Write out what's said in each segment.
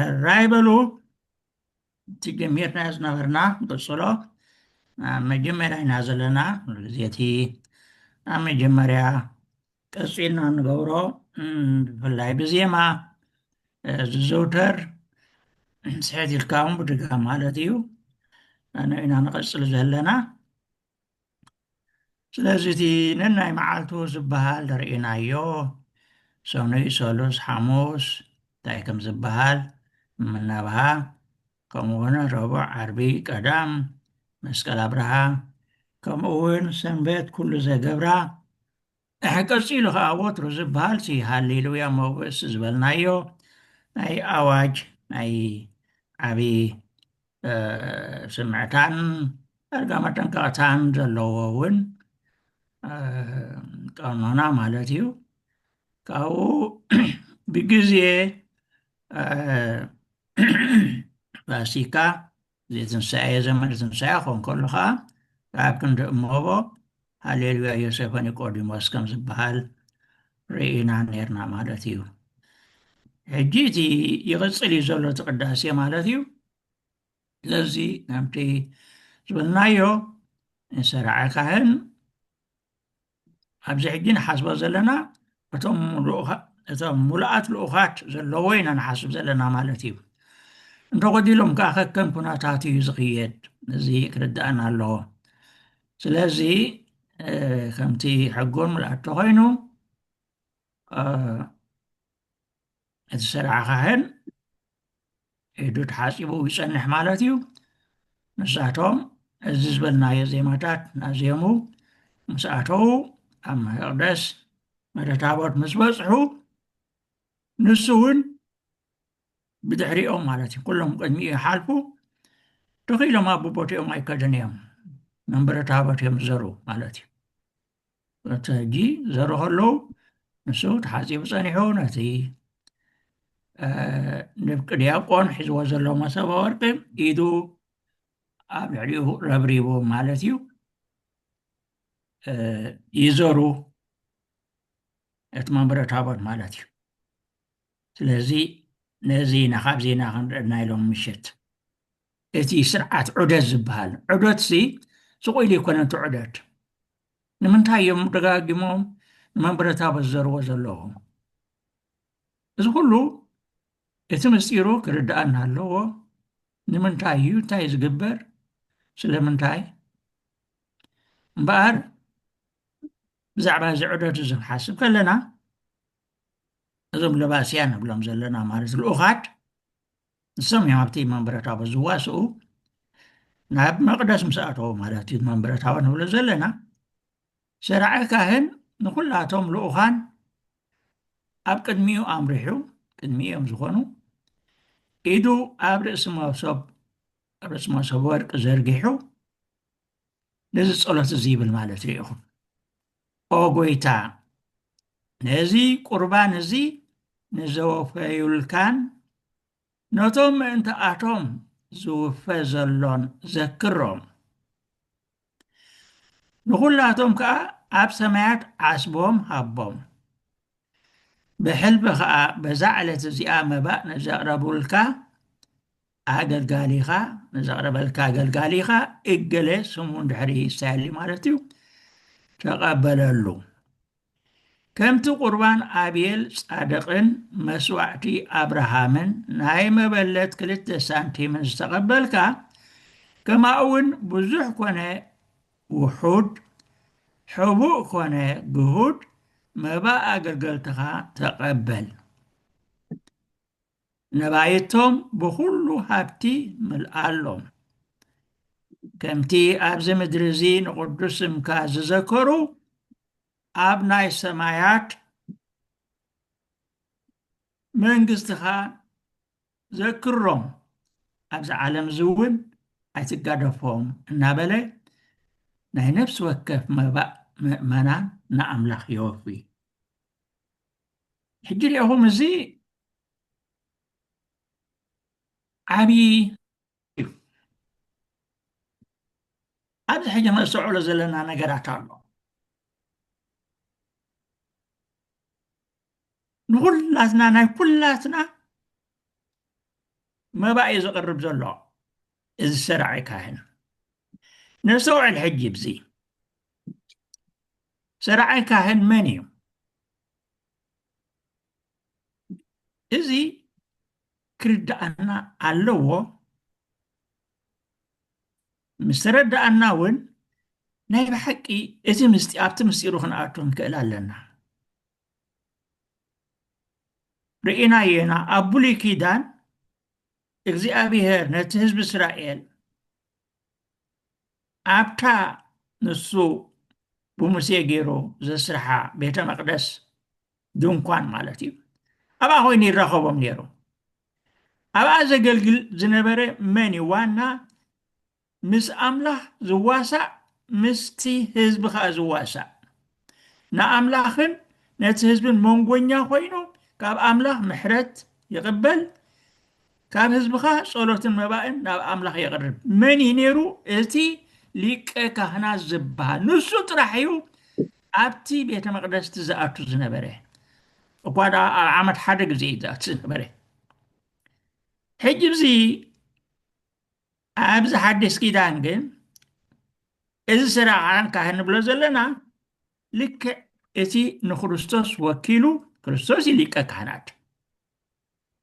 ሕራይ በሉ እቲ ጀሚርናዮ ዝነበርና ንቅፅሎ ኣብ መጀመርያ ኢና ዘለና ኩሉ ግዜ እቲ ኣብ መጀመርያ ቀፂልና ንገብሮ ብፍላይ ብዜማ ዝዘውተር ስሕት ኢልካ እውን ብድጋ ማለት እዩ ኣነ ኢና ንቐፅል ዘለና ስለዚ እቲ ነናይ መዓልቱ ዝበሃል ርኢናዮ ሰኑይ ሰሉስ ሓሙስ እንታይ ከም ዝበሃል ምናብሃ ከምኡ እውን ረቡዕ ዓርቢ ቀዳም መስቀል ኣብርሃ ከምኡ እውን ሰንበት ኩሉ ዘገብራ እሕ ቀጺሉ ከኣ ወትሩ ዝብሃል ሲ ሃሌሉያ መውግእስ ዝበልናዮ ናይ ኣዋጅ ናይ ዓቢ ስምዕታን ዳርጋ መጠንቀቕታን ዘለዎ እውን ቀኖና ማለት እዩ ካብኡ ብግዜ ፋሲካ ዘይትንሣኤ ዘመነ ትንሣኤ ክኾን ከሎ ኸዓ ኣብ ክንዲ እሞቦ ሃሌሉያ ዮሴፈ ኒቆዲሞስ ከም ዝበሃል ርኢና ነርና ማለት እዩ ሕጂ እቲ ይቕፅል እዩ ዘሎ እቲ ቅዳሴ ማለት እዩ ስለዚ ከምቲ ዝበልናዮ ንሰርዐ ካህን ኣብዚ ሕጂ ንሓስቦ ዘለና እቶም ሙሉኣት ልኡኻት ዘለዎ ኢና ንሓስብ ዘለና ማለት እዩ እንተጎዲሎም ከዓ ከከም ኩነታት እዩ ዝኽየድ እዚ ክርዳእና ኣለዎ ስለዚ ከምቲ ሕጎን ምልኣት ተኮይኑ እቲ ስራሕ ካሕን ኢዱ ተሓጺቡ ይጸንሕ ማለት እዩ። ንሳቶም እዚ ዝበልናዮ ዜማታት ናዜሙ ምስ ኣተዉ ኣብ መቅደስ መደታቦት ምስ በጽሑ ንሱ እውን ብድሕሪኦም ማለት እዩ ኩሎም ቅድሚ ይሓልፉ ተኺኢሎም ኣቦቦትኦም ኣይከደን እዮም መንበረ ታቦት እዮም ዝዘሩ ማለት እዩ እቲ ሕጂ ዘሩ ከለዉ ንሱ ተሓጺቡ ጸኒሑ ነቲ ንፍቂ ዲያቆን ሒዝዎ ዘሎ መሰበ ወርቂ ኢዱ ኣብ ልዕሊኡ ረብሪቡ ማለት እዩ ይዘሩ እቲ መንበረ ታቦት ማለት እዩ ስለዚ ነዚ ኢና ካብዚ ኢና ክንርአና ኢሎም ምሸት እቲ ስርዓት ዑደት ዝበሃል ዑደትሲ ስቕ ኢሉ ኣይኮነን እቲ ዑደት። ንምንታይ እዮም ደጋጊሞም ንመንበረታቦት ዝዘርዎ ዘለዉ? እዚ ኩሉ እቲ ምስጢሩ ክርድኣና ኣለዎ። ንምንታይ እዩ? እንታይ እዩ ዝግበር? ስለምንታይ? እምበኣር ብዛዕባ እዚ ዑደት እዚ ክንሓስብ ከለና እዞም ለባስያ ንብሎም ዘለና ማለት ልኡኻት ንሶም እዮም ኣብቲ መንበረ ታቦት ዝዋስኡ ናብ መቅደስ ምስ ኣተዉ ማለት እዩ መንበረ ታቦት ንብሎ ዘለና ሰርዐ ካህን ንኩላቶም ልኡኻን ኣብ ቅድሚኡ ኣምሪሑ ቅድሚ እዮም ዝኾኑ ኢዱ ኣብ ርእሲ መሶብ ርእሲ መሶብ ወርቂ ዘርጊሑ ነዚ ጸሎት እዚ ይብል ማለት እዩ ኢኹም ኦ ጎይታ ነዚ ቁርባን እዚ ንዘወፈዩልካን ነቶም ምእንቲኣቶም ዝውፈ ዘሎን ዘክሮም ንኹላቶም ከዓ ኣብ ሰማያት ዓስቦም ሃቦም ብሕልቢ ከዓ በዛ ዕለት እዚኣ መባእ ንዘቕረቡልካ ኣገልጋሊኻ፣ ንዘቕረበልካ ኣገልጋሊኻ እገለ ስሙ እንድሕሪ ይሳየሊ ማለት እዩ፣ ተቐበለሉ። ከምቲ ቁርባን ኣብየል ጻድቕን መስዋዕቲ ኣብርሃምን ናይ መበለት ክልተ ሳንቲምን ዝተቐበልካ፣ ከማኡውን ብዙሕ ኮነ ውሑድ፣ ሕቡእ ኮነ ግሁድ መባእ ኣገልገልትኻ ተቐበል። ነባይቶም ብዅሉ ሃብቲ ምልኣሎም። ከምቲ ኣብዚ ምድሪ እዚ ንቕዱስ ስምካ ዝዘከሩ ኣብ ናይ ሰማያት መንግስትኻ ዘክሮም ኣብዚ ዓለም እዚ እውን ኣይትጋደፎም እናበለ ናይ ነፍሲ ወከፍ መባእ ምእመናን ንኣምላኽ የወፍይ ሕጂ ርኢኹም እዚ ዓብዪ እዩ ኣብዚ ሕጂ ነስተውዕሎ ዘለና ነገራት ኣሎ ንኩላትና ናይ ኩላትና መባእ እዩ ዘቕርብ ዘሎ እዚ ሰራዕ ካህን ነስተውዕል ሕጂ ብዚ ጸራዓይ ካህን መን እዩ? እዚ ክርድኣና ኣለዎ። ምስ ተረድኣና እውን ናይ ብሓቂ እቲ ምስጢ ኣብቲ ምስጢሩ ክንኣቱ ንክእል ኣለና። ርኢናዮ ኢና ኣብ ብሉይ ኪዳን እግዚኣብሄር ነቲ ህዝቢ እስራኤል ኣብታ ንሱ ብሙሴ ገይሩ ዘስርሓ ቤተ መቅደስ ድንኳን ማለት እዩ ኣብኣ ኮይኑ ይራኸቦም ነይሩ ኣብኣ ዘገልግል ዝነበረ መን እዩ ዋና ምስ ኣምላኽ ዝዋሳእ ምስቲ ህዝቢ ከዓ ዝዋሳእ ንኣምላኽን ነቲ ህዝብን መንጎኛ ኮይኑ ካብ ኣምላኽ ምሕረት ይቕበል ካብ ህዝብኻ ጸሎትን መባእን ናብ ኣምላኽ የቕርብ መን እዩ ነይሩ እቲ ሊቀ ካህናት ዝበሃል ንሱ ጥራሕ እዩ ኣብቲ ቤተ መቅደስቲ ዝኣቱ ዝነበረ እኳ ደኣ ኣብ ዓመት ሓደ ግዜ እዩ ዝኣቱ ዝነበረ ሕጂ እዚ ኣብዚ ሓዲስ ኪዳን ግን እዚ ስራዓን ካህን ንብሎ ዘለና ልክዕ እቲ ንክርስቶስ ወኪሉ ክርስቶስ እዩ ሊቀ ካህናት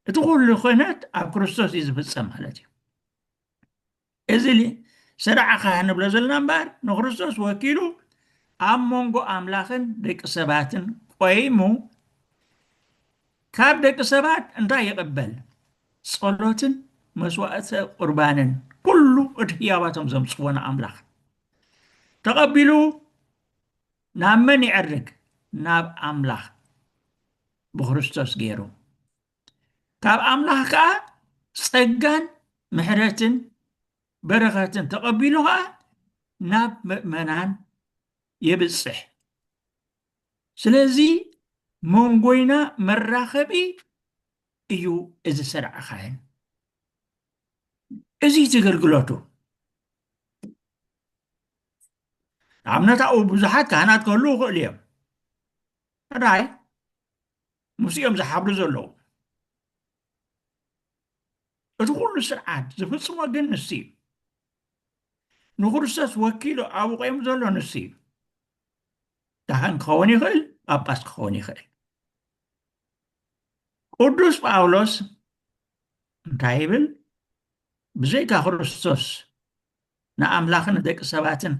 እቲ ኩሉ ክህነት ኣብ ክርስቶስ እዩ ዝፍፀም ማለት እዩ እዚ ስራዓ ካህን ንብሎ ዘለና እምበር ንክርስቶስ ወኪሉ ኣብ መንጎ ኣምላኽን ደቂ ሰባትን ቆይሙ ካብ ደቂ ሰባት እንታይ ይቕበል? ጸሎትን መስዋእተ ቁርባንን ኩሉ እቲ ህያባቶም ዘምጽዎ ንኣምላኽ ተቐቢሉ ናብ መን ይዕርግ? ናብ ኣምላኽ ብክርስቶስ ገይሩ ካብ ኣምላኽ ከዓ ጸጋን ምሕረትን በረኸትን ተቐቢሉ ከዓ ናብ ምእመናን የብጽሕ ስለዚ መንጎይና መራኸቢ እዩ እዚ ስርዐ ካህን እዚ እቲ ግልግሎቱ ንኣብነት ኣብኡ ብዙሓት ካህናት ክህልው ይኽእሉ እዮም ራይ ምስ እዮም ዝሓብሩ ዘለዉ እቲ ኩሉ ስርዓት ዝፍፅሞ ግን ንሱ እዩ ንክርስቶስ ወኪሉ ኣብኡ ቆይሙ ዘሎ ንሱ እዩ ካህን ክኸውን ይኽእል ጳጳስ ክኸውን ይኽእል ቅዱስ ጳውሎስ እንታይ ይብል ብዘይካ ክርስቶስ ንኣምላኽን ደቂ ሰባትን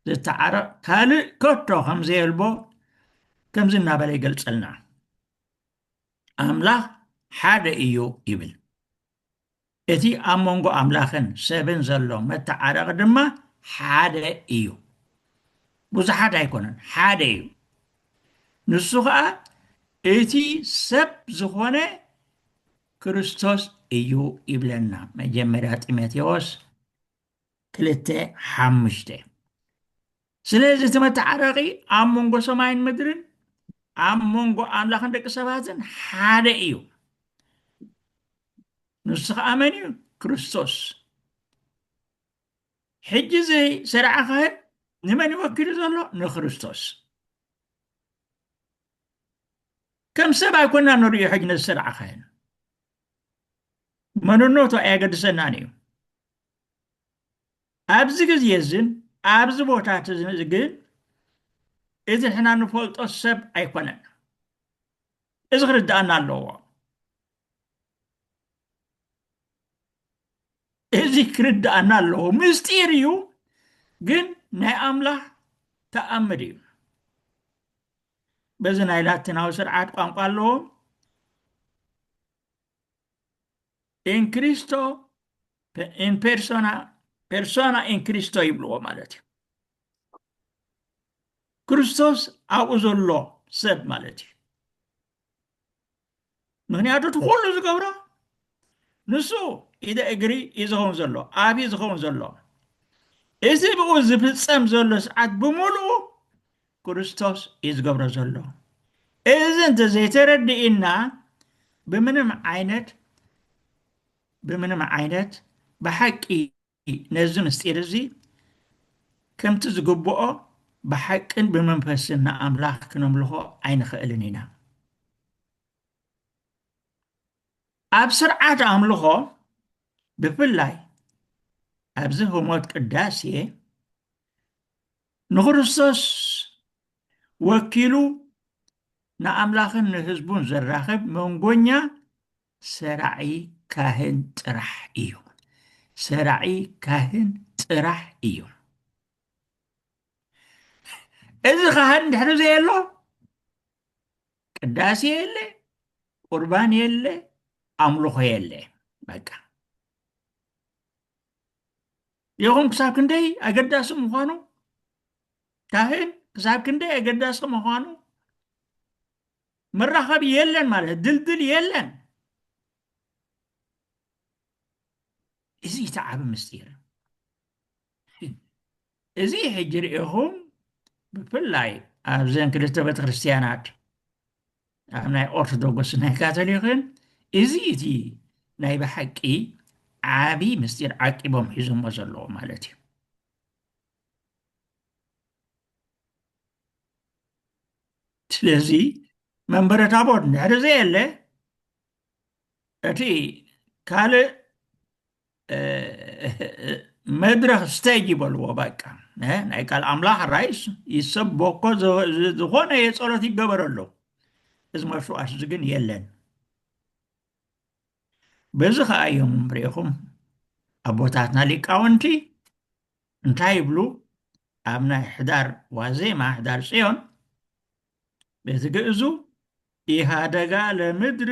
ዝተዓረቕ ካልእ ከቶ ከም ዘየልቦ ከምዚ እናበለ ይገልጸልና ኣምላኽ ሓደ እዩ ይብል እቲ ኣብ መንጎ ኣምላኽን ሰብን ዘሎ መተዓረቒ ድማ ሓደ እዩ። ብዙሓት ኣይኮነን፣ ሓደ እዩ። ንሱ ኸኣ እቲ ሰብ ዝኾነ ክርስቶስ እዩ ይብለና። መጀመርያ ጢሞቴዎስ ክልተ ሓሙሽተ ስለዚ እቲ መተዓረቒ ኣብ መንጎ ሰማይን ምድርን ኣብ መንጎ ኣምላኽን ደቂ ሰባትን ሓደ እዩ ንሱ ከዓ መን እዩ ክርስቶስ ሕጂ እዚ ሰርዓ ካህን ንመን ይወኪሉ ዘሎ ንክርስቶስ ከም ሰብ ኣይኮና ንርእዮ ሕጂ ነዚ ሰርዓ ካህን መንነቱ ኣየገድሰናን እዩ ኣብዚ ግዜ እዝን ኣብዚ ቦታት እዝን እዚ ግን እዚ ንሕና ንፈልጦ ሰብ ኣይኮነን። እዚ ክርድኣና ኣለዎ። እዚ ክርድኣና ኣለዎ። ምስጢር እዩ፣ ግን ናይ ኣምላኽ ተኣምር እዩ። በዚ ናይ ላቲናዊ ስርዓት ቋንቋ ኣለዎም ኢን ክሪስቶ ኢን ፔርሶና ፔርሶና ኢን ክሪስቶ ይብልዎ ማለት እዩ ክርስቶስ ኣብኡ ዘሎ ሰብ ማለት እዩ ምክንያቱ እቲ ኩሉ ዝገብሮ ንሱ ኢደ እግሪ እዩ ዝኸውን ዘሎ ኣብ እዩ ዝኸውን ዘሎ እዚ ብኡ ዝፍፀም ዘሎ ሰዓት ብምሉኡ ክርስቶስ እዩ ዝገብሮ ዘሎ እዚ እንተ ዘይተረድእና ብምንም ዓይነት ብምንም ዓይነት ብሓቂ ነዚ ምስጢር እዚ ከምቲ ዝግብኦ ብሓቅን ብመንፈስን ንኣምላኽ ክነምልኾ ኣይንኽእልን ኢና ኣብ ስርዓት ኣምልኾ ብፍላይ ኣብዚ ህሞት ቅዳሴ ንክርስቶስ ወኪሉ ንኣምላኽን ንህዝቡን ዘራኽብ መንጎኛ ሰራዒ ካህን ጥራሕ እዩ። ሰራዒ ካህን ጥራሕ እዩ። እዚ ካህን ድሕሪ ዘየሎ ቅዳሴ የለ፣ ቁርባን የለ፣ ኣምልኾ የለ። በቃ ይኹን ክሳብ ክንደይ ኣገዳሲ ምዃኑ ካህን ክሳብ ክንደይ ኣገዳሲ ምዃኑ መራኸቢ የለን ማለት ድልድል የለን እዚ እቲ ዓብ ምስጢር እዚ ሕጂ ርኢኹም ብፍላይ ኣብዘን ክልተ ቤተክርስትያናት ኣብ ናይ ኦርቶዶክስ ናይ ካቶሊክን እዚ እቲ ናይ ብሓቂ ዓብዪ ምስጢር ዓቂቦም ሒዞሞ ዘለዎ ማለት እዩ ስለዚ መንበረ ታቦት እንድሕር ዘየለ እቲ ካልእ መድረኽ ስቴጅ ይበልዎ በቃ ናይ ቃል ኣምላኽ ራይስ ይሰበኮ ዝኾነ የፀሎት ይገበረሉ እዚ መስዋእት እዚ ግን የለን በዚ ከዓ እዮም ሪኢኹም ኣቦታትና ሊቃውንቲ እንታይ ይብሉ ኣብ ናይ ሕዳር ዋዜማ ሕዳር ፅዮን ቤት ግእዙ ኢሃደጋ ለምድር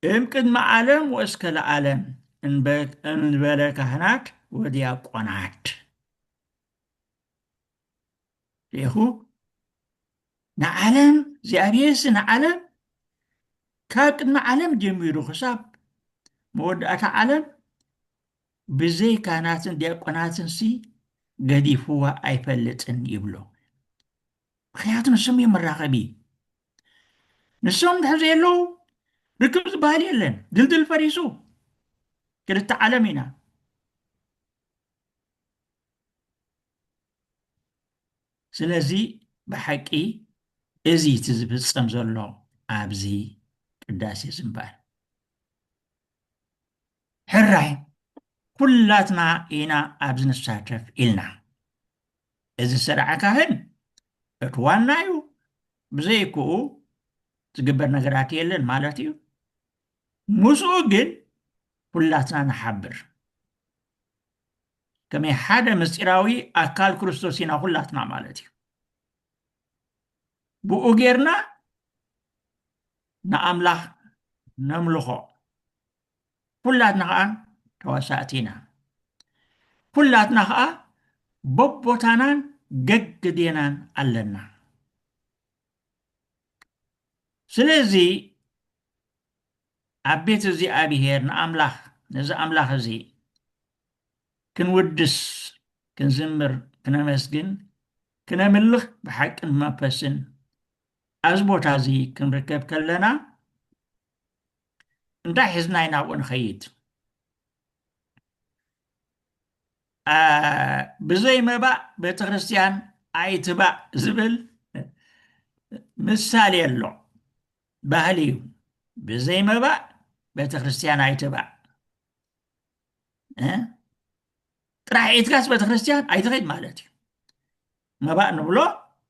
እም ቅድመ ዓለም ወእስከ ለዓለም እንበለ ካህናት ወዲያቆናት ሌኹ ንዓለም እግዚኣብሔርሲ ንዓለም ካብ ቅድሚ ዓለም ጀሚሩ ክሳብ መወዳእታ ዓለም ብዘይ ካህናትን ዲያቆናትንሲ ገዲፍዋ ኣይፈልጥን ይብሎ ምክንያቱ ንሶም እዮም መራኸቢ ንሶም ድሕር ዘየለዉ ርክብ ዝበሃል የለን ድልድል ፈሪሱ ክልተ ዓለም ኢና ስለዚ ብሓቂ እዚ እቲ ዝፍፀም ዘሎ ኣብዚ ቅዳሴ ዝምባል ሕራይ ኩላትና ኢና ኣብዚ ንሳተፍ ኢልና እዚ ስርዐ ካህን እቲ ዋና እዩ፣ ብዘይክኡ ዝግበር ነገራት የለን ማለት እዩ። ምስኡ ግን ኩላትና ንሓብር። ከመይ ሓደ ምስጢራዊ ኣካል ክርስቶስ ኢና ኩላትና ማለት እዩ። ብኡ ጌርና ንኣምላኽ ነምልኾ። ኩላትና ኸኣ ተዋሳእቲ ኢና። ኩላትና ኸኣ በቦታናን ገግዴናን ኣለና። ስለዚ ኣብ ቤት እግዚኣብሔር ንኣምላኽ ነዚ ኣምላኽ እዚ ክንውድስ ክንዝምር ክነመስግን ክነምልኽ ብሓቅን መንፈስን ኣብዚ ቦታ እዚ ክንርከብ ከለና እንታይ ሒዝና ኢና ኣብኡ ንኸይድ ብዘይ መባእ ቤተ ክርስቲያን ኣይትባእ ዝብል ምሳሌ ኣሎ ባህሊ እዩ ብዘይ መባእ ቤተ ክርስቲያን ኣይትባእ ጥራሕ ኢትካስ ቤተ ክርስቲያን ኣይትኸይድ ማለት እዩ መባእ ንብሎ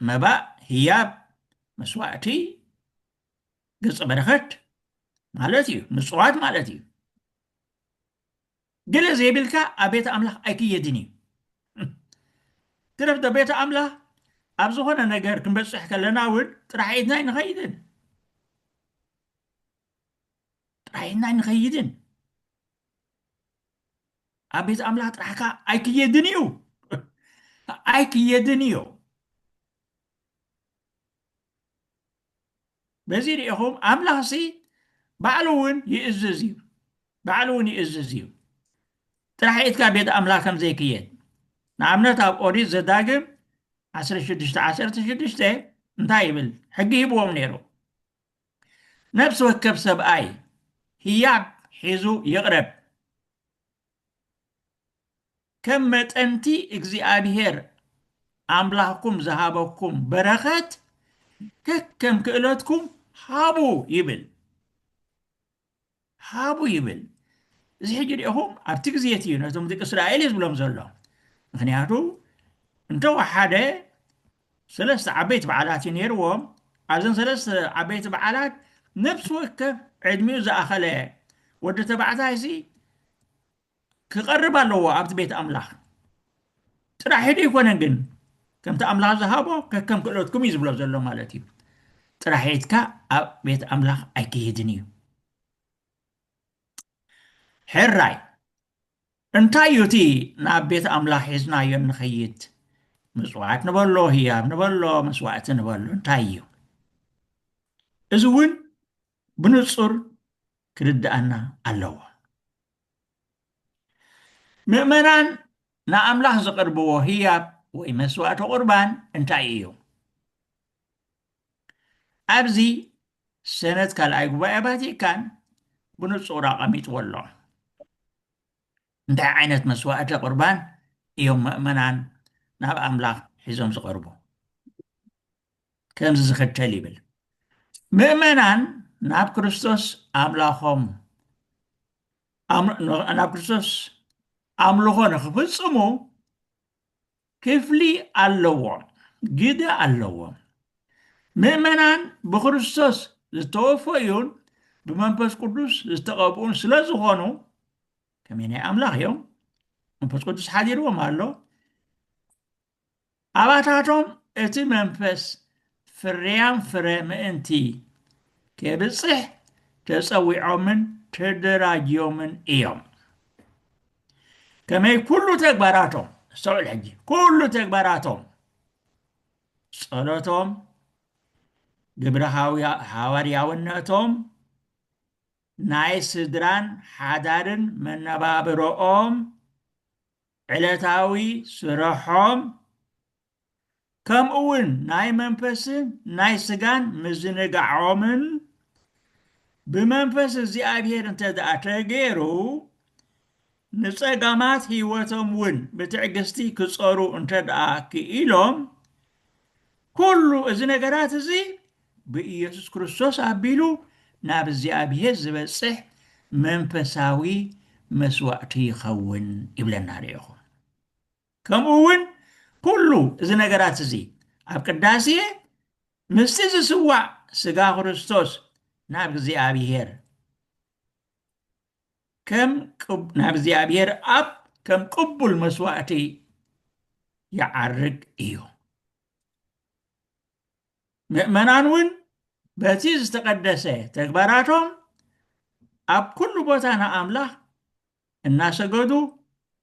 መባእ ህያብ መስዋእቲ ገጸ በረከት ማለት እዩ ምፅዋት ማለት እዩ ግለ ዘይብልካ ኣብ ቤተ ኣምላኽ ኣይክየድን እዩ ትረፍ ዶ ቤተ ኣምላኽ ኣብ ዝኾነ ነገር ክንበፅሕ ከለና እውን ጥራሕ ኢድና ኣይንኸይድን ጥራሕ ኢድና ኣይንኸይድን ኣብ ቤት ኣምላኽ ጥራሕካ ኣይክየድን እዩ ኣይክየድን እዩ በዚ ርኢኹም ኣምላኽሲ ባዕሉ እውን ይእዝዝ እዩ ባዕሉ እውን ይእዝዝ እዩ ጥራሕ ኢትካ ቤት ኣምላኽ ከም ዘይክየድ ንኣብነት ኣብ ኦሪት ዘዳግም 1616 እንታይ ይብል ሕጊ ሂብዎም ነይሩ ነፍሲ ወከፍ ሰብኣይ ህያብ ሒዙ ይቕረብ ከም መጠን'ቲ እግዚኣብሄር ኣምላኽኩም ዝሃበኩም በረኸት ከከም ክእለትኩም ሃቡ ይብል። ሃቡ ይብል። እዚ ሕጂ ዲኹም ኣብቲ ግዜ እቲ ነቶም ደቂ እስራኤል እዩ ዝብሎም ዘሎ ምክንያቱ እንተወሓደ ሰለስተ ዓበይቲ በዓላት እዩ ነይርዎም። ኣብዘን ሰለስተ ዓበይቲ በዓላት ነፍሲ ወከፍ ዕድሚኡ ዝኣኸለ ወዲ ተባዕታይሲ ክቐርብ ኣለዎ ኣብቲ ቤት ኣምላኽ ጥራሕ ሒዱ ኣይኮነን ግን ከምቲ ኣምላኽ ዝሃቦ ከከም ክእለትኩም እዩ ዝብሎ ዘሎ ማለት እዩ ጥራሕ ኢትካ ኣብ ቤት ኣምላኽ ኣይክሄድን እዩ ሕራይ እንታይ እዩ እቲ ናብ ቤት ኣምላኽ ሒዝናዮ እንኸይድ ምጽዋት ንበሎ ህያብ ንበሎ መስዋእቲ ንበሎ እንታይ እዩ እዚ እውን ብንጹር ክርድኣና ኣለዎ ምእመናን ንኣምላኽ ዝቕርብዎ ህያብ ወይ መስዋእቲ ቁርባን እንታይ እዩ ኣብዚ ሰነት ካልኣይ ጉባኤ ቫቲካን ብንጹር ኣቐሚጥዎ ኣሎ። እንታይ ዓይነት መስዋእተ ቁርባን እዮም ምእመናን ናብ ኣምላኽ ሒዞም ዝቐርቡ? ከምዚ ዝኽተል ይብል ምእመናን ናብ ክርስቶስ ኣምላኾም ናብ ክርስቶስ ኣምልኾ ንኽፍጽሙ ክፍሊ ኣለዎም፣ ግደ ኣለዎም። ምእመናን ብክርስቶስ ዝተወፈዩን ብመንፈስ ቅዱስ ዝተቐብኡን ስለ ዝኾኑ ከመይ ናይ ኣምላኽ እዮም፣ መንፈስ ቅዱስ ሓዲርዎም ኣሎ። ኣባታቶም እቲ መንፈስ ፍርያም ፍረ ምእንቲ ኬብጽሕ ተጸዊዖምን ተደራጅዮምን እዮም። ከመይ ኩሉ ተግባራቶም ኣስተውዕል ሕጂ ኩሉ ተግባራቶም ጸሎቶም ግብረ ሃዋርያውነቶም ናይ ስድራን ሓዳርን መነባብሮኦም ዕለታዊ ስረሖም ከምኡውን ናይ መንፈስን ናይ ስጋን ምዝንጋዖምን ብመንፈስ እግዚኣብሔር እንተ ደኣ ተገይሩ ንጸጋማት ሕይወቶም እውን ብትዕግስቲ ክጸሩ እንተ ደኣ ክኢሎም ኩሉ እዚ ነገራት እዚ ብኢየሱስ ክርስቶስ ኣቢሉ ናብ እግዚኣብሔር ዝበጽሕ መንፈሳዊ መስዋእቲ ይኸውን ይብለና ኣሎ ኢኹም ከምኡ እውን ኩሉ እዚ ነገራት እዚ ኣብ ቅዳሴ ምስቲ ዝስዋዕ ስጋ ክርስቶስ ናብ እግዚኣብሔር ከም ናብ እግዚኣብሔር ኣብ ከም ቅቡል መስዋእቲ ይዓርግ እዩ ምእመናን እውን በቲ ዝተቀደሰ ተግባራቶም ኣብ ኩሉ ቦታ ንኣምላኽ እናሰገዱ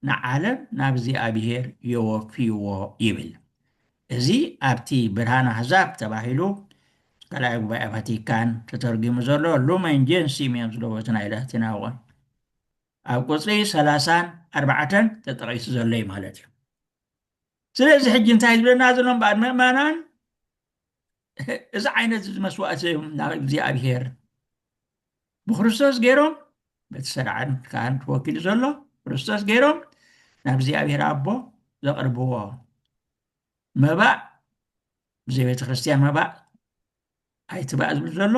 ንዓለም ናብ እግዚኣብሔር የወፍይዎ ይብል። እዚ ኣብቲ ብርሃን ኣሕዛብ ተባሂሉ ካልኣይ ጉባኤ ቫቲካን ተተርጒሙ ዘሎ ሉመን ጀንሲሚየም ዝለበቱ ናይ ላቲናዊ ቃል ኣብ ቁፅሪ ሰላሳን ኣርባዕተን ተጠቒሱ ዘሎ እዩ ማለት እዩ። ስለዚ ሕጂ እንታይ ዝብለና ዘሎ እምበኣር ምእመናን እዚ ዓይነት እዚ መስዋእቲ ናብ እግዚኣብሔር ብክርስቶስ ገይሮም በቲ ሰርዓን ካህን ተወኪሉ ዘሎ ክርስቶስ ገይሮም ናብ እግዚኣብሔር ኣቦ ዘቕርብዎ መባእ ብዘይ ቤተ ክርስትያን መባእ ኣይትባእ ዝብል ዘሎ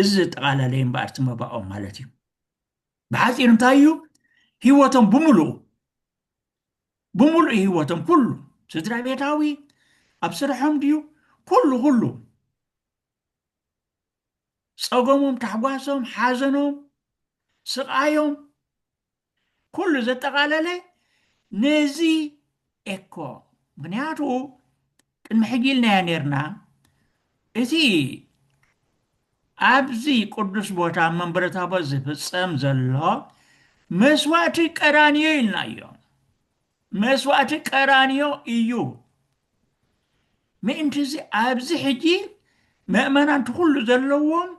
እዚ ዘጠቓላለየ እምበኣር እቲ መባኦም ማለት እዩ ብሓፂር እንታይ እዩ ህይወቶም ብምሉኡ ብምሉእ ህይወቶም ኩሉ ስድራ ቤታዊ ኣብ ስርሖም ድዩ ኩሉ ኩሉ ጸገሞም ታሕጓሶም ሓዘኖም ስቓዮም ኩሉ ዘጠቓለለ ነዚ ኤኮ ምክንያቱ ቅድሚ ሕጂ ኢልናዮ ኔርና እቲ ኣብዚ ቅዱስ ቦታ መንበረ ታቦት ዝፍጸም ዘሎ መስዋእቲ ቀራንዮ ኢልናዮ መስዋእቲ ቀራንዮ እዩ ምእንቲ እዚ ኣብዚ ሕጂ መእመናን ትኩሉ ዘለዎም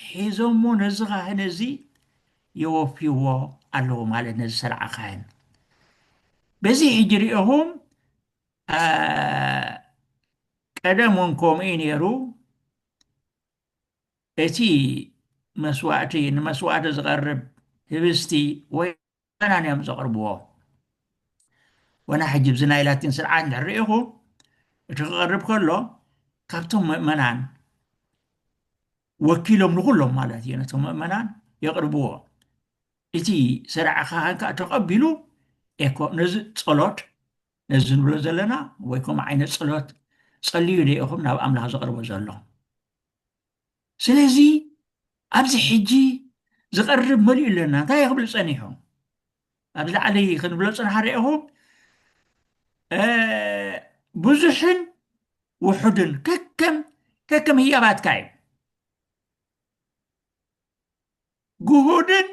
ሒዞሞ ነዚ ካህን እዚ የወፍይዎ ኣለዎ ማለት ነዚ ሰርዓ ካህን በዚ ሕጂ ሪኦኹም ቀደም እውን ከምኡ ነይሩ እቲ መስዋእቲ ንመስዋእቲ ዝቐርብ ህብስቲ ወይ በናን እዮም ዘቕርብዎ። ወና ሕጂ ብዚ ናይ ላቲን ስርዓት እንድሕር ርኢኹ እቲ ክቐርብ ከሎ ካብቶም ምእመናን ወኪሎም ንኹሎም ማለት እዩ ነቶም ምእመናን የቕርብዎ። እቲ ሰርዐ ካህን ከዓ ተቐቢሉ ኤኮ ነዚ ጸሎት ነዚ ንብሎ ዘለና ወይ ከምኡ ዓይነት ጸሎት ጸልዩ ዶ ኢኹም ናብ ኣምላኽ ዘቕርቦ ዘሎ ስለዚ ኣብዚ ሕጂ ዝቐርብ መሊኡ ኣለና እንታይ ክብል ጸኒሑ ኣብዚ ላዕሊ ክንብሎ ጽንሓ ርኢኹም ብዙሕን ውሑድን ከከም ከከም ህያባትካ እዩ ግሁድን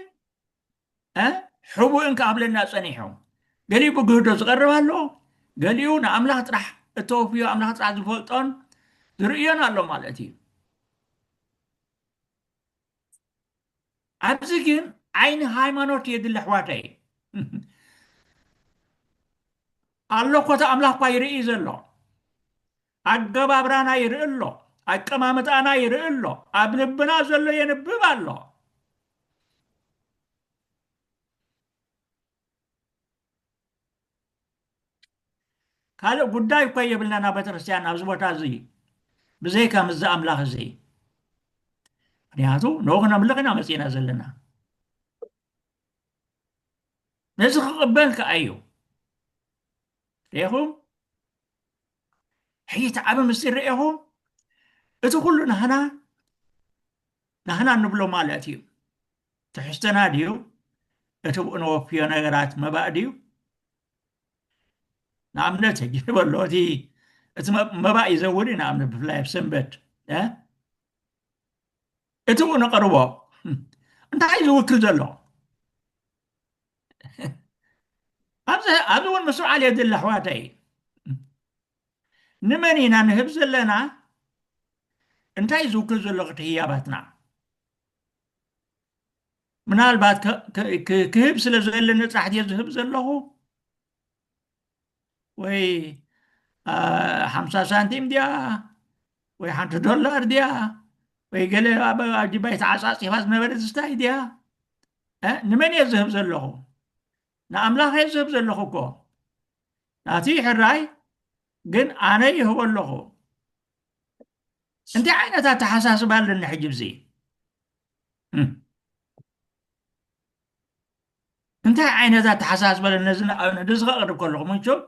ሕቡእን ክኣብለና ፀኒሑ ገሊኡ ብግህዶ ዝቐርብ ኣሎ ገሊኡ ንኣምላኽ ጥራሕ እተወፍዮ ኣምላኽ ጥራሕ ዝፈልጦን ዝርእዮን ኣሎ ማለት እዩ ኣብዚ ግን ዓይኒ ሃይማኖት የድሊ ኣሕዋተይ ኣሎ ኮታ ኣምላኽ እኳ ይርኢ ዘሎ ኣገባብራና ይርኢ ኣሎ፣ ኣቀማምጣና ይርኢ ኣሎ፣ ኣብ ልብና ዘሎ የንብብ ኣሎ። ካልእ ጉዳይ እኳ የብልናን ኣብ ቤተክርስትያን ኣብዚ ቦታ እዚ ብዘይካ ምስዚ ኣምላኽ እዚ ምክንያቱ ንኡ ክነምልኽ ኢና መፂእና ዘለና ነዚ ክቕበል ከዓ እዩ ሪኹም ሕጂ እቲ ዓቢ ምስጢር ርኤኹም እቲ ኩሉ ናህና ናህና ንብሎ ማለት እዩ ትሕዝቶና ድዩ እቲ ብኡ ነወፍዮ ነገራት መባእ ድዩ ንኣብነት ሕጂ ንበሎ እቲ እቲ መባእ እዩ ዘውሪ ንኣብነት ብፍላይ ኣብ ሰንበት እቲ ብኡ ነቐርቦ እንታይ እዩ ዝውክል ዘሎ ኣብዚ እውን ምስውዓል የድሊ ኣሕዋተይ ንመን ኢና ንህብ ዘለና እንታይ ዝውክል ዘሎ ክቲ ህያባትና ምናልባት ክህብ ስለ ዘለ ነፃሕት እየ ዝህብ ዘለኹ ወይ ሓምሳ ሳንቲም ድያ ወይ ሓንቲ ዶላር ድያ ወይ ገለ ኣብ ጅባይ ተዓፃፂፋ ዝነበረ ዝስታይ ድያ ንመን እየ ዝህብ ዘለኹ ንኣምላኽ እየ ዝህብ ዘለኹ እኮ ናቲ ሕራይ ግን ኣነ ይህቦ ኣለኹ እንታይ ዓይነት ኣተሓሳስባ ኣለኒ ሕጂ ብዚ እንታይ ዓይነት ኣተሓሳስባ ኣሎ ነዚ ንኣብነት እዚ ከቕርብ ከለኹ መቸም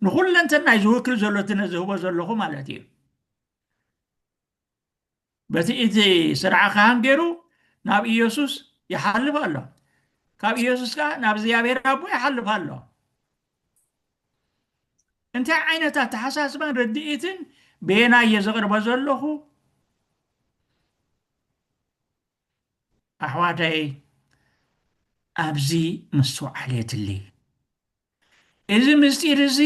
ንኹለንተናይ ዝውክል ዘሎ እቲ ነዚ ህቦ ዘለኹ ማለት እዩ በቲ እቲ ስርዓ ካህን ገይሩ ናብ ኢየሱስ ይሓልፍ ኣሎ ካብ ኢየሱስ ከዓ ናብ እግዚኣብሔር ኣቦ ይሓልፍ ኣሎ እንታይ ዓይነት ኣተሓሳስባን ርድኢትን ቤና እየ ዘቕርበ ዘለኹ ኣሕዋተይ ኣብዚ ምስትውዓል የድሊ። እዚ ምስጢር እዚ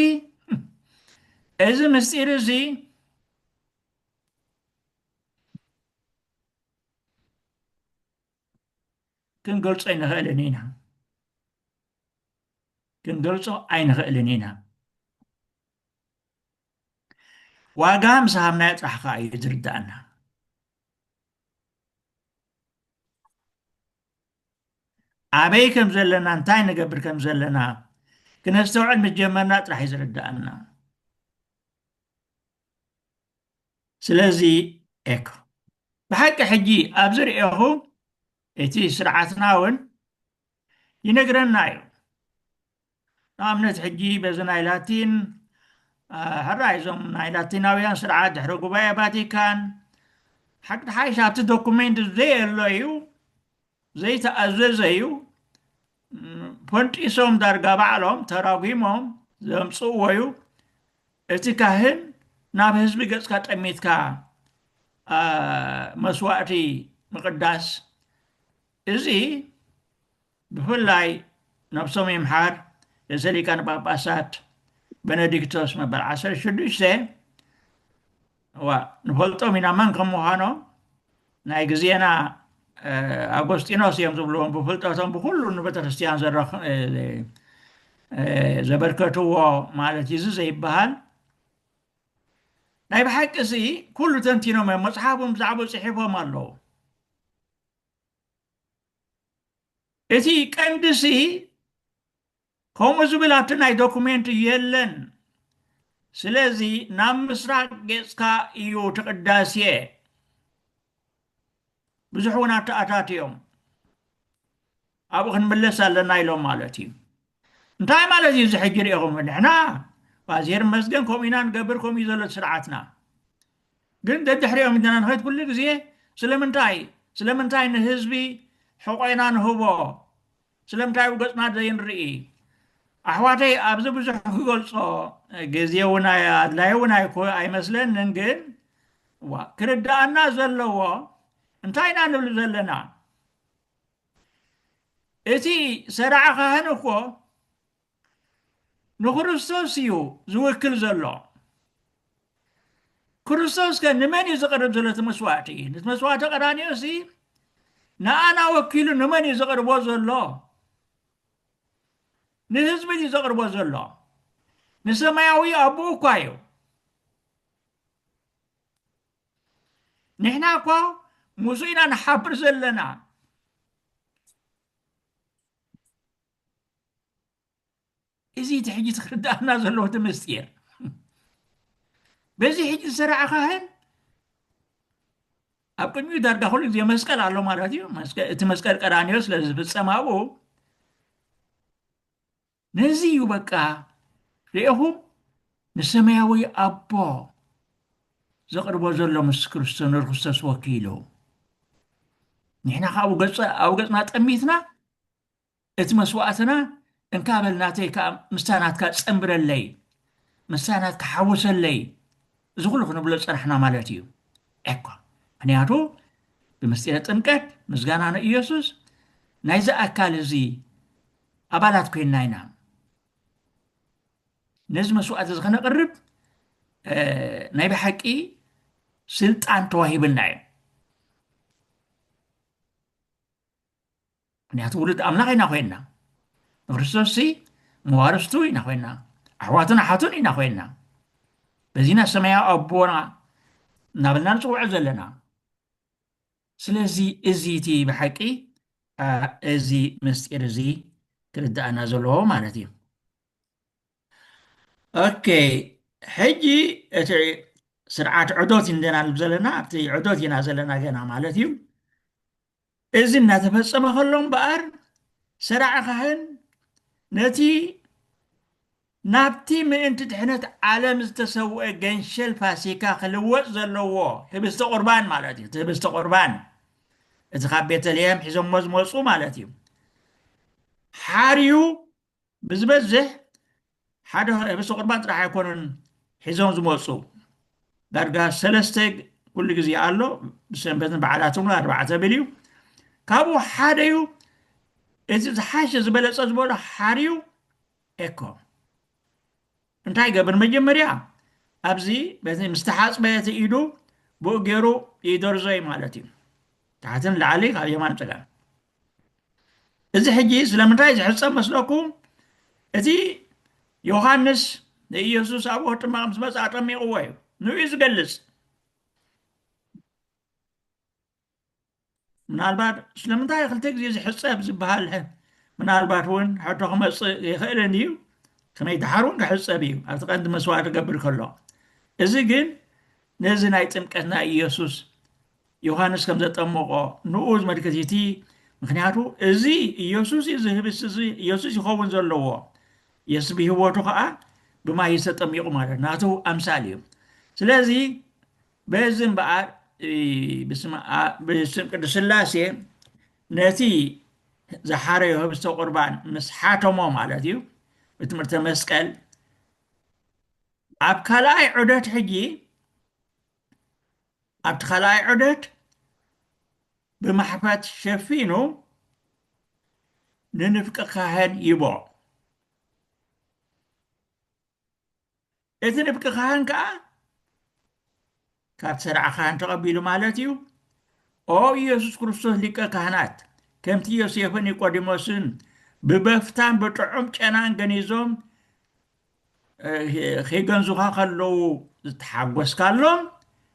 እዚ ምስጢር እዚ ክንገልጾ ኣይንኽእልን ኢና ክንገልጾ ኣይንኽእልን ኢና ዋጋ ምስ ሃብናዮ ጥራሕ ከዓ እዩ ዝርዳእና ኣበይ ከም ዘለና እንታይ ንገብር ከም ዘለና ክነስተውዕል ምስ ጀመርና ጥራሕ እዩ ዝርዳእና ስለዚ ኤኮ ብሓቂ ሕጂ ኣብ ዝርኤኹ እቲ ስርዓትና እውን ይነግረና እዩ ንኣብነት ሕጂ በዚ ናይ ላቲን ሕራይ እዞም ናይ ላቲናውያን ስርዓት ድሕረ ጉባኤ ቫቲካን ሓቂ ተሓይሽ ኣብቲ ዶኩሜንት ዘየሎ እዩ ዘይተኣዘዘ እዩ ፈንጢሶም ዳርጋ ባዕሎም ተራጒሞም ዘምፅእዎ እዩ እቲ ካህን ናብ ህዝቢ ገፅካ ጠሚትካ መስዋእቲ ምቕዳስ እዚ ብፍላይ ናብ ሰሙይ ኣምሓር ርእሰ ሊቃነ ጳጳሳት በነዲክቶስ መበል ዓሰርተ ሽዱሽተ እዋ ንፈልጦም ኢና መን ከም ምዃኖም ናይ ግዜና ኣጎስጢኖስ እዮም ዝብልዎም ብፍልጠቶም ብኩሉ ንቤተ ክርስትያን ዘበርከትዎ ማለት እዩ እዚ ዘይበሃል ናይ ብሓቂ እዚ ኩሉ ተንቲኖም እዮም መፅሓፎም ብዛዕባ ፅሒፎም ኣለዉ እቲ ቀንዲሲ ከምኡ ዝብል ኣብቲ ናይ ዶኩሜንት የለን ስለዚ ናብ ምስራቅ ጌጽካ እዩ እቲ ቅዳሴ ብዙሕ እውን ኣተኣታትዮም ኣብኡ ክንምለስ ኣለና ኢሎም ማለት እዩ እንታይ ማለት እዩ እዚ ሕጂ ርኢኹም ንሕና ዜር መስገን ከምኡ ኢና ንገብር ከምኡ እዩ ዘሎ ስርዓትና ግን ደድሕሪኦም ኢና ንኸይድ ኩሉ ግዜ ስለምንታይ ስለምንታይ ንህዝቢ ሕቆና ንህቦ ስለምንታይ ኣብ ገጽና ዘይንርኢ ኣሕዋተይ ኣብዚ ብዙሕ ክገልጾ ግዜ እውን ኣድላዩ እውን ኣይመስለንን ግን ዋ ክርድኣና ዘለዎ እንታይ ኢና ንብል ዘለና እቲ ሠራዐ ኻህን እኮ ንክርስቶስ እዩ ዝውክል ዘሎ። ክርስቶስ ከ ንመን እዩ ዝቐርብ ዘሎ? እቲ መስዋዕቲ እቲ መስዋዕቲ ቀራንዮ ሲ ንኣና ወኪሉ ንመን እዩ ዘቕርቦ ዘሎ? ንህዝቢ እዩ ዘቕርቦ ዘሎ። ንሰማያዊ ኣቦኡ እኳ እዩ። ንሕና እኳ ሙዙ ኢና ንሓብር ዘለና እዚ እቲ ሕጂ ዝክርዳኣና ዘለዎ እቲ ምስጢር በዚ ሕጂ ዝስራዕ ካህን ኣብ ቅድሚኡ ዳርጋ ኩሉ ግዜ መስቀል ኣሎ ማለት እዩ እቲ መስቀል ቀራንዮ ስለ ዝፍፀም ኣብኡ ነዚ እዩ በቃ ርኤኹም ንሰማያዊ ኣቦ ዘቕርቦ ዘሎ ምስ ክርስቶስ ንርክስቶስ ወኪሉ ንሕና ካብ ኣብ ገፅና ጠሚትና እቲ መስዋእትና እንካ በልናተይ ከዓ ምስታ ናትካ ፀንብረለይ ምስታ ናትካ ሓውሰለይ እዚ ኩሉ ክንብሎ ፀናሕና ማለት እዩ እኳ ምክንያቱ ብምስጢረ ጥምቀት ምስጋና ንኢየሱስ ናይዚ ኣካል እዚ ኣባላት ኮይንና ኢና ነዚ መስዋእቲ እዚ ከነቕርብ ናይ ብሓቂ ስልጣን ተዋሂብና እዩ ምክንያቱ ውሉድ ኣምላኽ ኢና ኮይንና ንክርስቶስ ሲ መዋርስቱ ኢና ኮይንና ኣሕዋቱን ኣሓቱን ኢና ኮይንና በዚና ሰማያዊ ኣቦና እናበልና ንፅውዖ ዘለና ስለዚ እዚ እቲ ብሓቂ እዚ ምስጢር እዚ ክርዳእና ዘለዎ ማለት እዩ ኦኬ ሕጂ እቲ ስርዓት ዕዶት እንደና ዘለና ኣብቲ ዕዶት ኢና ዘለና ገና ማለት እዩ እዚ እናተፈፀመ ከሎ እምበኣር ሰራዕ ካህን ነቲ ናብቲ ምእንቲ ድሕነት ዓለም ዝተሰውኤ ገንሸል ፋሲካ ክልወጥ ዘለዎ ህብስተ ቁርባን ማለት እዩ። እቲ ህብስተ ቁርባን እቲ ካብ ቤተልሔም ሒዞሞ ዝመጹ ማለት እዩ። ሓርዩ ብዝበዝሕ ሓደ ህብስተ ቁርባን ጥራሕ ኣይኮኑን ሒዞም ዝመጹ ዳርጋ ሰለስተ ኩሉ ግዜ ኣሎ ብሰንበትን በዓላትን እውን ኣርባዕተ ብል እዩ ካብኡ ሓደዩ እቲ ዝሓሸ ዝበለጸ ዝበሎ ሓርዩ ኤኮ እንታይ ይገብር መጀመርያ ኣብዚ በዚ ምስ ተሓፅበ እቲ ኢዱ ብኡ ገይሩ ይደርዞይ ማለት እዩ ታሕትን ላዕሊ ካብ የማን ፀጋም እዚ ሕጂ ስለምንታይ ዝሕፀብ መስለኩም እቲ ዮሃንስ ንኢየሱስ ኣብ ወህጢ ማቕ ምስ መፅኣ ጠሚቕዎ እዩ ንኡ ዝገልፅ ምናልባት ስለምንታይ ክልተ ግዜ ዝሕፀብ ዝበሃል ምናልባት እውን ሕቶ ክመፅእ ይኽእልን እዩ ከመይ ድሓር እውን ክሕፀብ እዩ ኣብቲ ቀንዲ መስዋዕቲ ገብር ከሎ እዚ ግን ነዚ ናይ ጥምቀት ናይ ኢየሱስ ዮሃንስ ከም ዘጠመቆ ንኡ ዝመልክት እቲ ምክንያቱ እዚ ኢየሱስ እዩ ዝህብስ እዚ ኢየሱስ ይኸውን ዘለዎ የሱስ ብህወቱ ከዓ ብማይ ተጠሚቑ ማለት ናቱ ኣምሳል እዩ ስለዚ በዚ እምበኣር ብስም ቅዱስ ስላሴ ነቲ ዝሓረዮ ህብስተ ቁርባን ምስ ሓተሞ ማለት እዩ ብትምህርተ መስቀል ኣብ ካልኣይ ዑደት ሕጂ ኣብቲ ካልኣይ ዑደት ብማሕፈት ሸፊኑ ንንፍቂ ካህን ይቦ እቲ ንፍቂ ካህን ከኣ ካብ ሠርዐ ካህን ተቐቢሉ ማለት እዩ ኦ ኢየሱስ ክርስቶስ ሊቀ ካህናት ከምቲ ዮሴፍን ኒቆዲሞስን ብበፍታን ብጥዑም ጨናን ገኒዞም ኺገንዙኻ ከለዉ ዝተሓጐስካሎም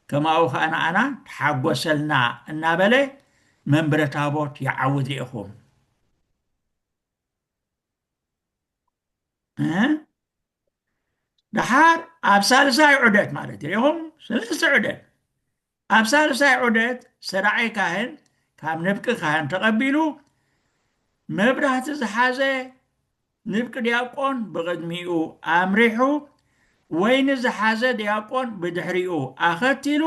ከማኡ ኸኣ ንኣና ተሓጐሰልና እናበለ መንበረ ታቦት ይዓውት ርኢኹም ደሓር ኣብ ሳልሳይ ዑደት ማለት ኢኹም ሰለስተ ዑደት ኣብ ሳልሳይ ዑደት ሰራዓይ ካህን ካብ ንብቂ ካህን ተቐቢሉ መብራህቲ ዝሓዘ ንብቂ ዲያቆን ብቕድሚኡ ኣምሪሑ ወይኒ ዝሓዘ ዲያቆን ብድሕሪኡ ኣኸቲሉ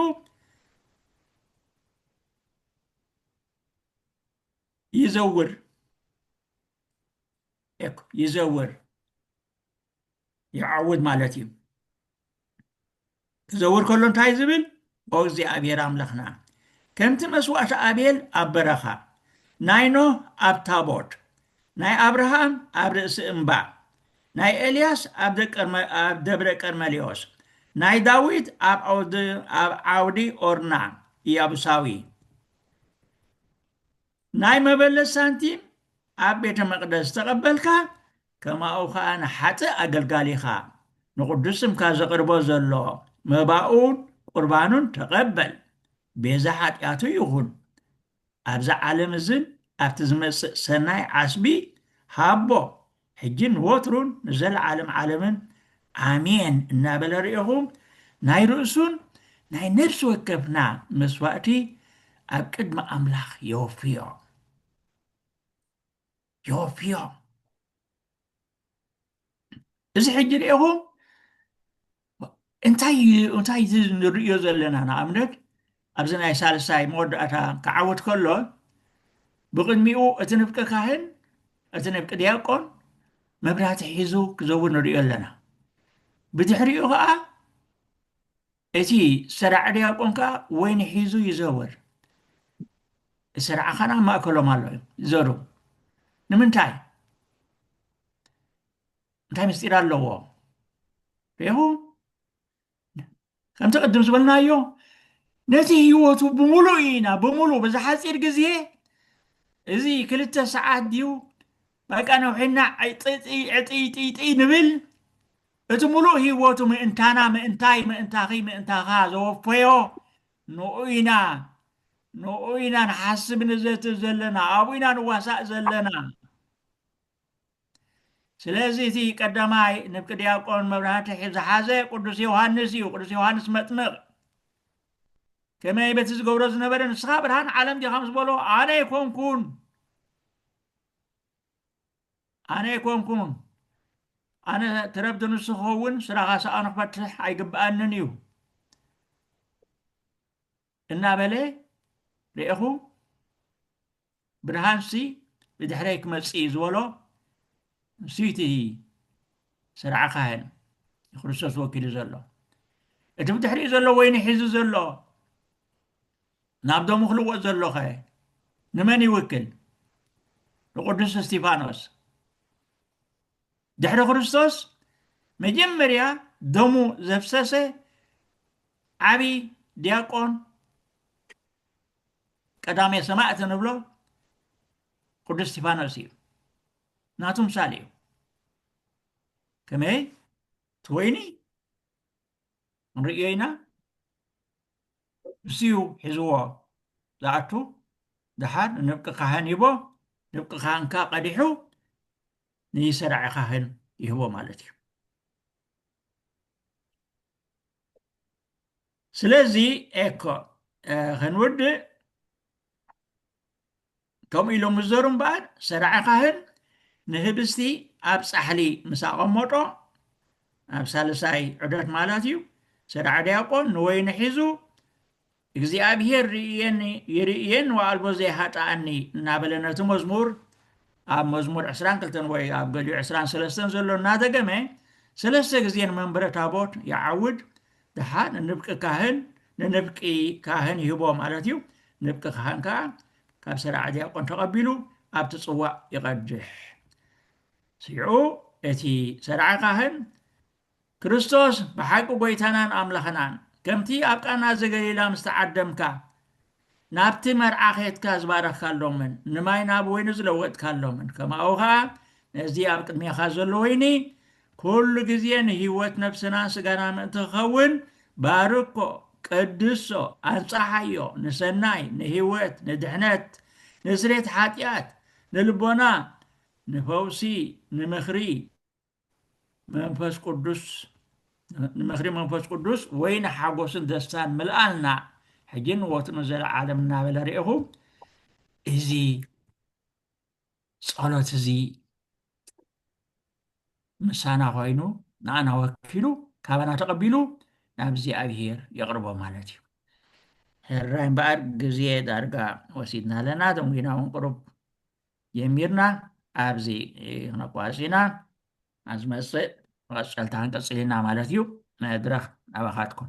ይዘውር ይዘውር ይዓውድ ማለት እዩ ክዘውር ከሎ እንታይ ዝብል ኦ እግዚኣብሔር ኣምላኽና ከምቲ መስዋእቲ ኣቤል ኣብ በረኻ ናይ ኖህ ኣብ ታቦት ናይ ኣብርሃም ኣብ ርእሲ እምባ ናይ ኤልያስ ኣብ ደብረ ቀርመሌዎስ ናይ ዳዊት ኣብ ዓውዲ ኦርና ኢያቡሳዊ ናይ መበለት ሳንቲም ኣብ ቤተ መቅደስ ዝተቀበልካ ከማኡ ከኣ ንሓጥእ ኣገልጋሊኻ ንቅዱስ ስምካ ዘቅርቦ ዘሎ መባኡን ቁርባኑን ተቀበል ቤዛ ሓጢኣቱ ይኹን ኣብዚ ዓለም እዝን ኣብቲ ዝመጽእ ሰናይ ዓስቢ ሃቦ ሕጂን ንወትሩን ንዘለዓለም ዓለምን ኣሜን እናበለ ርኤኹም ናይ ርእሱን ናይ ነፍሲ ወከፍና መስዋእቲ ኣብ ቅድሚ ኣምላኽ የወፍዮ የወፍዮ እዚ ሕጂ ርኤኹም እንታይ እዚ ንርእዮ ዘለና ንኣብነት ኣብዚ ናይ ሳልሳይ መወዳእታ ክዓወት ከሎ ብቕድሚኡ እቲ ንፍቂ ካህን እቲ ንፍቂ ዲያቆን መብራህቲ ሒዙ ክዘውር ንርእዮ ኣለና ብድሕሪኡ ከዓ እቲ ሰራዕ ዲያቆን ከዓ ወይኒ ሒዙ ይዘወር ስርዓኻን ኣብ ማእከሎም ኣሎ ዘሩ ንምንታይ እንታይ ምስጢር ኣለዎ ሬኹ ከምቲ ቅድም ዝበልናዮ ነቲ ህይወቱ ብምሉእ ኢና ብምሉእ በዚ ሓፂር ግዜ እዚ ክልተ ሰዓት ድዩ በቃ ነውሒና ዕጥይጥይጥይ ንብል እቲ ሙሉእ ህይወቱ ምእንታና ምእንታይ ምእንታኺ ምእንታኻ ዘወፈዮ ንኡ ኢና ንኡ ኢና ንሓስብ ንዘትብ ዘለና ኣብኡ ኢና ንዋሳእ ዘለና ስለዚ እቲ ቀዳማይ ንፍቂ ዲያቆን መብራህቲ ዝሓዘ ቅዱስ ዮሃንስ እዩ ቅዱስ ዮሃንስ መጥምቕ ከመይ በቲ ዝገብሮ ዝነበረ ንስኻ ብርሃን ዓለም ዲኻ ምስ በሎ ኣነ ኣይኮንኩን ኣነ ኣይኮንኩን ኣነ ትረብቲ ንሱ ክኸውን ስራኻ ሰኣኑ ክፈትሕ ኣይግብኣንን እዩ እናበለ ርኤኹ ብርሃንሲ ብድሕረይ ክመጽእ እዩ ዝበሎ ንሱ እቲ ስርዓ ካህን ንክርስቶስ ወኪሉ ዘሎ እቲ ብድሕሪኡ ዘሎ ወይኒ ሒዙ ዘሎ ናብ ደሙ ክልወጥ ዘሎኸ ንመን ይውክል ንቅዱስ እስጢፋኖስ ድሕሪ ክርስቶስ መጀመርያ ደሙ ዘፍሰሰ ዓብዪ ዲያቆን ቀዳሜ ሰማእት ንብሎ ቅዱስ እስጢፋኖስ እዩ ናቱ ምሳሌ እዩ ከመይ እቲ ወይኒ ንርእዮ ኢና ንሱ እዩ ሒዝዎ ዝኣቱ ድሓር ንብቂ ካህን ሂቦ ንብቂ ካህንካ ቀዲሑ ንሰራዒ ካህን ይህቦ ማለት እዩ ስለዚ ኤኮ ከንውድእ ከምኡ ኢሎም ምዘሩ እምበኣር ሰራዒ ካህን ንህብስቲ ኣብ ፃሕሊ ምስ ኣቐመጦ ኣብ ሳልሳይ ዑደት ማለት እዩ ሰራዒ ዲያቆን ንወይኒ ሒዙ እግዚኣብሄር ርእየኒ ይርእየን ወኣልቦ ዘይሃጥኣኒ እናበለ ነቲ መዝሙር ኣብ መዝሙር ዕስራን ክልተን ወይ ኣብ ገሊኡ ዕስራን ሰለስተን ዘሎ እናደገመ ሰለስተ ግዜ ንመንበረ ታቦት ይዓውድ ድሓር ንንብቂ ካህን ንንብቂ ካህን ይህቦ ማለት እዩ ንብቂ ካህን ከዓ ካብ ሰራዕ ዲያቆን ተቐቢሉ ኣብቲ ጽዋእ ይቐድሕ ስይዑ እቲ ሰርዓ ካህን ክርስቶስ ብሓቂ ጎይታናን ኣምላኽናን ከምቲ ኣብ ቃና ዘገሊላ ምስ ተዓደምካ ናብቲ መርዓ ኼትካ ዝባረኽካሎምን ንማይ ናብ ወይኒ ዝለወጥካሎምን ከማኡ ኸኣ ነዚ ኣብ ቅድሜኻ ዘሎ ወይኒ ኩሉ ግዜ ንህይወት ነፍስናን ስጋና ምእንቲ ክኸውን ባርኮ ቅድሶ ኣንጻሓዮ ንሰናይ ንህይወት ንድሕነት ንስሬት ሓጢኣት ንልቦና ንፈውሲ ንምኽሪ መንፈስ ቅዱስ ንምኽሪ መንፈስ ቅዱስ ወይ ንሓጎስን ደስታን ምልኣልና ሕጂን ወት ንዘለዓለም እናበለ ርኢኹ እዚ ጸሎት እዚ ምሳና ኮይኑ ንኣና ወኪሉ ካባና ተቐቢሉ ናብ እግዚኣብሄር የቕርቦ ማለት እዩ ሕራይ እምበኣር ግዜ ዳርጋ ወሲድና ኣለና ተምጊና እውን ቅሩብ ጀሚርና ኣብዚ ክነቋርፅ ኢና ኣብ ዝመፅእ መቐፀልታ ክንቅፅል ኢና ማለት እዩ መድረኽ ናባኻትኩም